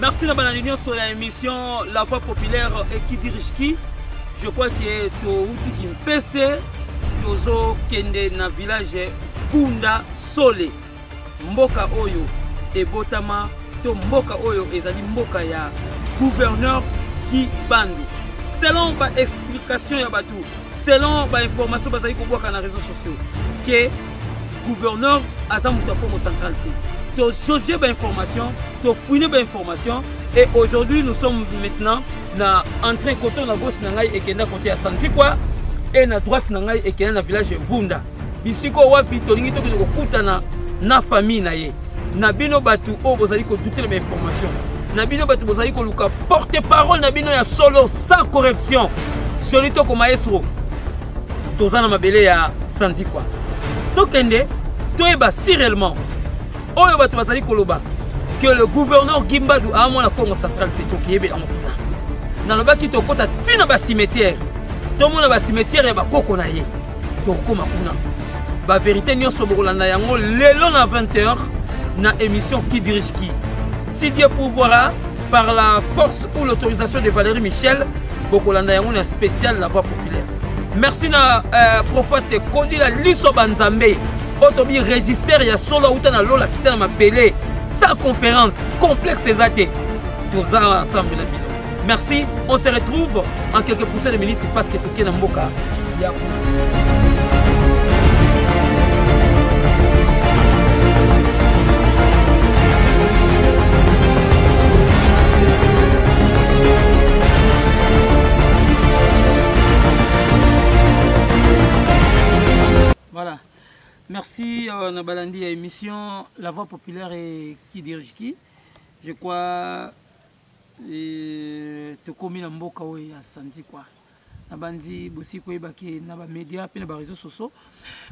Merci na balandi nyonso ya émission La Voix Populaire et qui dirige qui. Je crois que touti Kimpese, tozo kende na village Funda Sole. Mboka oyo ebotama to mboka oyo ezali mboka ya gouverneur Kibandu. Selon ba explication ya bato, selon ba information bazali kobwaka na réseaux sociaux que gouverneur aza moto ya congo central te tozauge bainformation tofouine bainformation et aujourd'hui nous sommes maintenant na entrain koto na gauche na ngai ekenda kote ya santikwa e na droite na ngai ekenda na village vunda bisika wapi tolingi tokende kokutana na famille na ye na bino bato oyo bozali kodutela bainformation na bino bato bozali koluka porte parole na bino ya solo sans corruption soli tokoma esro toza na mabele ya sandikwa tokende toyeba si réellement oyo bato bazali koloba que le gouverneur gimbadu aamona congo central te tokeyebela yango kuna nalobaki tokɔta ntina basimetiere tomona basimetiere ya bakoko na ye tokokoma kuna baverité nyonso bokolanda yango lelo na 20 heures na émission qui dirige qui si dieu pouvoira par la force ou l'autorisation de valérie michel bokolanda yango na spécial la voix merci na euh, prophète kodila liso banzambe oyo tobi register ya solo auta na lola kita na mabele sa conférence complexe eza te toza ensemble na bino merci on se retrouve en quelques poussées de minutes parce que toke na mboka ya Voilà. Merci euh, na balandi ya émission La Voix Populaire et qui dirige qui. Je crois euh, tokomi na mboka oyo ya sanzi kwa nabandi bosi koyeba ke na bamédia mpe na baréseau soso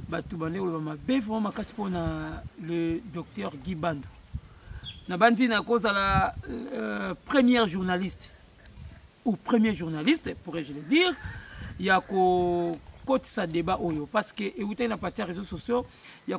bato bande koloba mabe vraimen makasi mpo na le docteur guy bando nabandi nakozala euh, première journaliste au premier journaliste pourrais je le dire ya ko kotisa débat oyo parce que ewutaki na parti ya réseaux sociaux ya